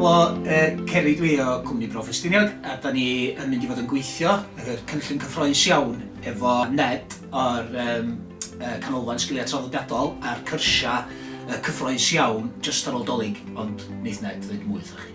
Helo, Ceri dwi o cwmni Bro Ffestiniog a da ni yn mynd i fod yn gweithio yr cynllun cyffroes iawn efo Ned o'r Canolfan Sgiliau Traddodiadol a'r cyrsiau cyffroes iawn jyst ar ôl Dolig ond neith Ned ddeud mwy wrthoch chi.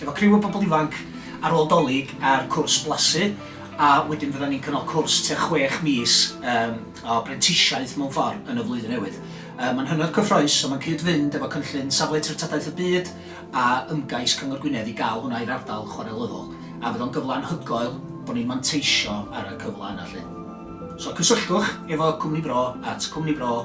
efo criw o bobl ifanc ar ôl 'Dolig a'r cwrs blasu a wedyn fyddan ni'n cynnal cwrs tua chwech mis yym o brentisiaeth mewn ffor yn y flwyddyn newydd. Yy ma'n hynod cyffrous a ma'n cyd-fynd efo cynllun Safle Treftadaeth y Byd a ymgais Cyngor Gwynedd i ga'l hwnna i'r ardal chwarelyddol a fydd o'n gyfle anhygoel bo ni'n manteisio ar y cyfle yna 'lly. So cysylltwch efo cwmni bro at cwmni bro